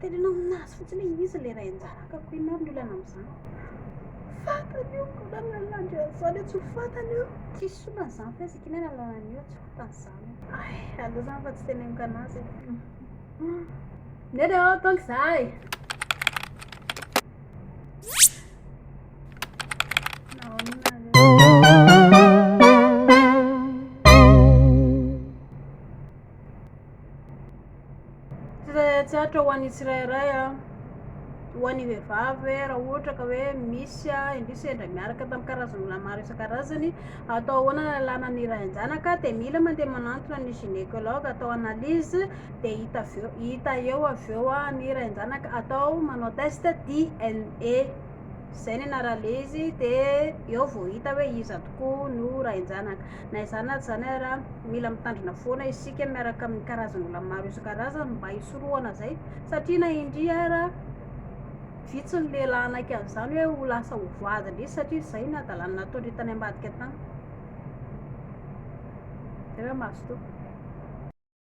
Teneno aminazy fotsiny hoe izy ilay iray anjara akako, inona ary ny olana amin'izany? Fantany io, koa na lalandry an'izany io tsy ho fantany io. Tsisy olana izany fa izy kina nalalany io tsy fantany izany. Ay, aleo izany fa tsy teneniko anazy. Neny aho, tonga izahay. Tsitratsatra ho an'ny tsirairay a, ho an'ny vehivavy hoe raha ohatra ka hoe misy a, indrisy sendra miaraka tamin'ny karazan'olona maro isan-karazany, atao ahoana ny lalàna ny iray an-janaka dia mila mandeha manantona ny gynécologue atao analyse dia hita avy eo hita eo avy eo a ny iray an-janaka atao manao test DNA. Izay ny anarale izy dia eo vao hita hoe iza tokoa no rain-janaka. Na izany na izany ary mila mitandrina foana isika miaraka amin'ny karazan'olona maro isan-karazany mba hisorohana izay satria na indria ary vitsy ny lehilahy hanaiky an'izany hoe ho lasa ho voady indrisy satria izay ny hadalany nataondry tany ambadika tany. Izay hoe mazotoa.